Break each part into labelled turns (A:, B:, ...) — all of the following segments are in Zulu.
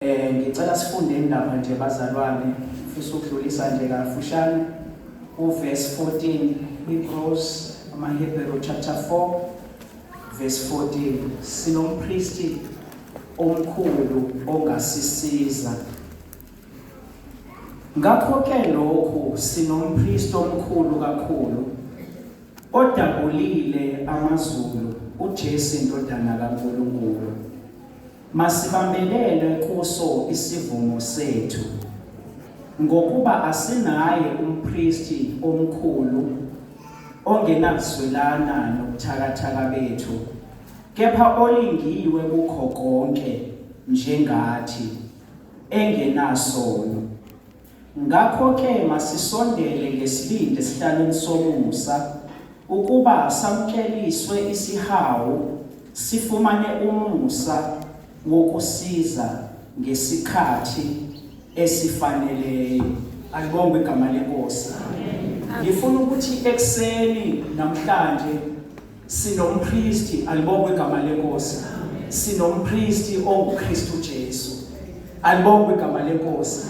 A: Eh ngicela sifunde indaba nje bazalwane ngifisa ukudlulisa nje kafushane uverse 14 Hebrews amaHebrew chapter 4 verse 14 sinompristi omkhulu ongasisiza ngakho ke lokhu sinompristi omkhulu kakhulu odabulile amazulu uJesu indodana kaNkulunkulu Masibambelele kuso isivumo sethu, ngokuba asinaye umpristi omkhulu ongenakuzwelana nobuthakathaka bethu, kepha olingiwe kukho konke njengathi, engenasono. Ngakho-ke masisondele ngesibindi esihlalweni somusa, ukuba samukeliswe isihawu, sifumane umusa wokusiza ngesikhathi esifaneleyo. Alibongwe igama leNkosi. Ngifuna ukuthi ekuseni namhlanje Sinompristi, alibongwe igama lenkosi. Sinompristi onguKristu Jesu. Alibongwe igama lenkosi.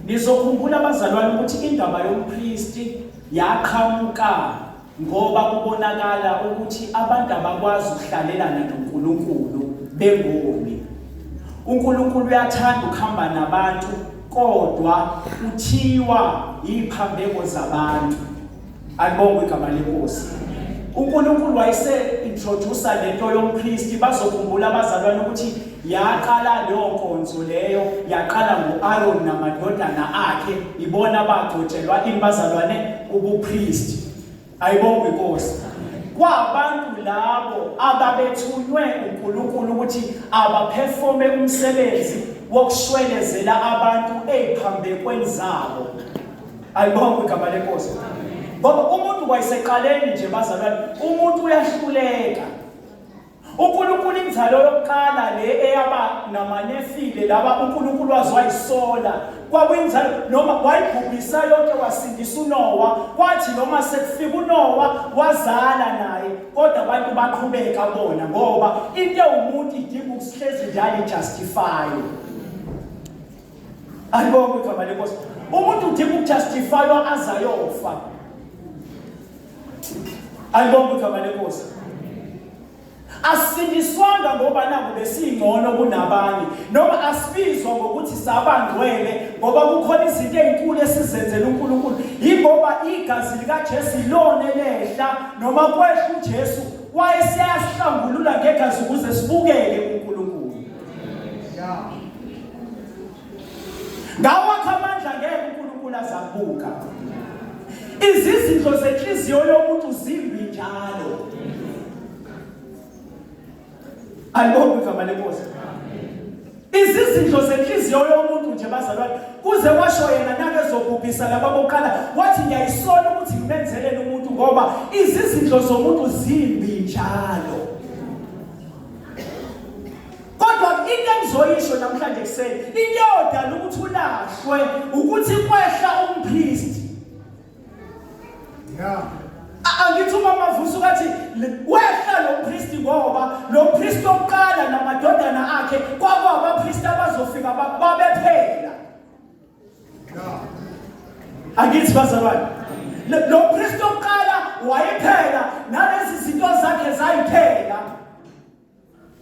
A: Nizokhumbula abazalwane ukuthi indaba yompristi yaqhamuka ngoba kubonakala ukuthi abantu abakwazi ukuhlalelana noNkulunkulu bengoni. UNkulunkulu uyathanda ukuhamba nabantu kodwa uthiwa iphambeko zabantu. Alibongwe igama lenkosi. UNkulunkulu wayese introduce lento yompristi bazokhumbula abazalwane ukuthi yaqala leyo nkonzo leyo yaqala nguAron namadodana akhe ibona bagcotshelwa imbazalwane ubupristi. Ayibongwe inkosi. Kwabantu labo ababethunywe uNkulunkulu ukuthi abaperforme umsebenzi wokushwelezela abantu eziphambekweni zabo. Alibonge igama lenkosi. Ngoba umuntu kwayiseqaleni nje bazalwane, umuntu uyahluleka. uNkulunkulu inzalo yokuqala le eyaba namanefile laba uNkulunkulu wazwayisola kwakuyinzalo noma wayibhubhisa yonke wasindisa uNowa kwathi noma sekufika uNowa wazala naye kodwa abantu baqhubeka bona ngoba into ewumuntu idinga ukusihlezi njalo ijustify ayibonke igama lenkosi umuntu udinga ukujustifywa azayofa ayibonke igama lenkosi asindiswanga ngoba nabo besingcono kunabanye noma asibizwa ngokuthi sabangcwele ngoba kukhona izinto ezinkulu esizenzela uNkulunkulu ingoba igazi likaJesu ilona elehla noma kwehla uJesu wayesiyasihlangulula ngegazi ukuze sibukeke ngawakho amandla ngeke uNkulunkulu azabuka izizindlo zenhliziyo yomuntu zimbi njalo alibonga igama lenkosi izizindlo zenhliziyo yomuntu nje bazalwane kuze washo yena nake zokubhisa laba bokuqala wathi ngiyayisola ukuthi ngimenzelele umuntu ngoba izizindlo zomuntu zimbi njalo kodwa into engizoyisho namhlanje kuseni into eyodala ukuthi ulahlwe ukuthi kwehla umpristi ya angithi uma mavusa ukathi wehla lo mpristi ngoba lo mpristi oqala namadodana akhe kwakwaba angithi bazalwane lo kristu oqala wayephela nalezi zinto zakhe zayiphela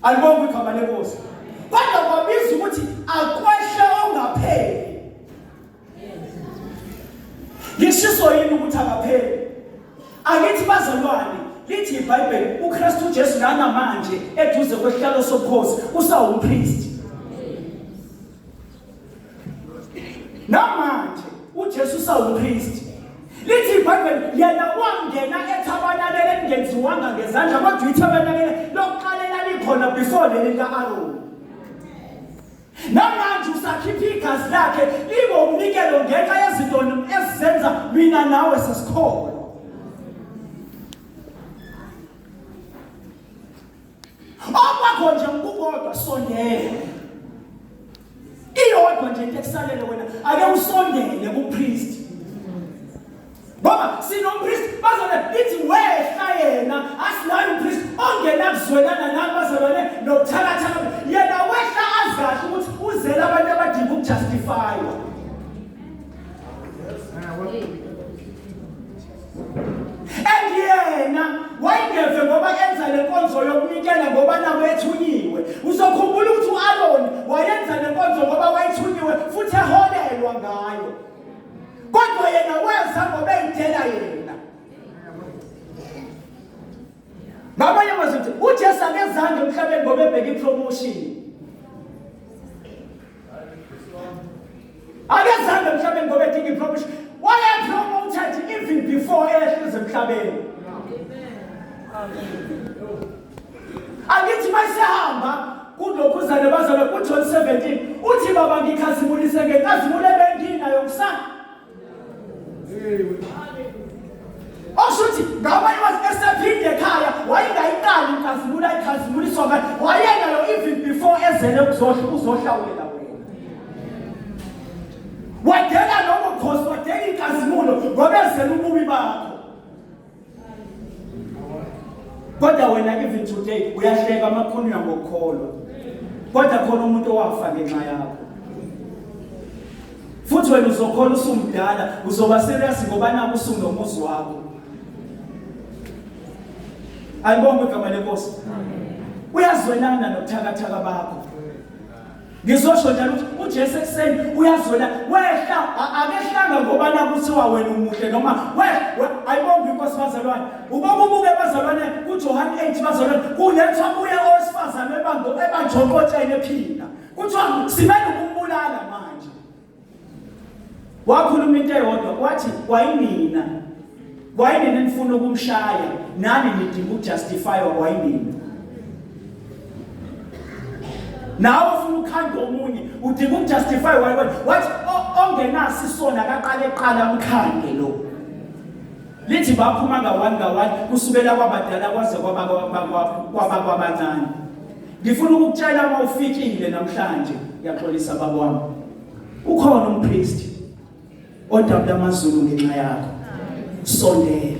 A: alibonga igama lenkosi kodwa kwabiza ukuthi akwehle ongapheli ngishiso yini ukuthi akapheli angithi bazalwane lithi ibhayibheli ukristu ujesu nanamanje eduze kwesihlalo sobukhosi usawumpristi namanje uJesu sawuKristu lithi ibhayibheli yena wangena ethabanakele elingenziwanga ngezandla kodwa ithabanakele lokuqala elalikhona before leli lika-aroni namanje usakhipha igazi lakhe libe umnikelo ngenxa yezinto ezizenza mina nawe sesikholwa okwakho nje ukukodwa sondela iyodwa nje into ekusalele wena ake usondele kupriest ngoba sinompriest bazobe lithi wehla yena asinayo umpriest ongena kuzwelana nami bazobane nokuthakathaka yena wehla azi kahle ukuthi uzele abantu abadinga ukujustifywa and yena wayengeve ngoba enza le nkonzo yokunikela ngoba nabo ethunyiwe uzokhumbula ukuthi u-aroni wayenza le nkonzo ngoba wayethunyiwe futhi eholelwa ngayo kodwa yena weza ngoba eyidela yena ngamanye amazwi uthi ujesu akezange emhlabeni ngoba ebheke ipromotion akezange emhlabeni ngoba edinga iprofession wayephuma umthetho even before eyehleze emhlabeni angithi mayisehamba kulokhu uzane bazalwe kujohn 17 uthi baba ngikhazimulise ngenkazimulo ebenginayo kusana oshuthi ngabanye bathi esephinde ekhaya wayengayiqali inkazimulo ayikhazimula isonga wayenayo even before ezele kuzohla uzohlawulela wena wadela lobo khosi wadela inkazimulo ngoba ezele ububi bakho kodwa wena even today uyahleka amakhulunywa ngokukholwa kodwa khona umuntu owafa ngenxa yakho futhi wena uzokhola usumdala uzoba serious ngoba naku usunomuzi wakho ayibonge igama lenkosi uyazwelana nobuthakathaka bakho ngizosho njalo ukuthi uJesu ekuseni uyazwela wehla akehlanga ngoba nakuthiwa wena umuhle noma wehla ayibonga inkosi bazalwane ubokubuke bazalwane kuJohane 8 bazalwane kulethwa kuye owesifazane ebango ebanjokotshene ephila kuthiwa simele ukumbulala manje wakhuluma into eyodwa wathi kwayinina kwayinina nifuna ukumshaya nani nidinga ukujustifywa kwayinina nawe ufuna ukhanda omunye udinga ukujustify wayiwena wathi ongenasi isona akaqale qala umkhande lo Lithi baphuma ngawani ngawani kusukela kwabadala kwaze kwabakwabancane. Ngifuna ukukutshela uma ufikile namhlanje ngiyaxolisa baba wami. Ukhona umpriest odabula amazulu ngenxa yakho. Sondela.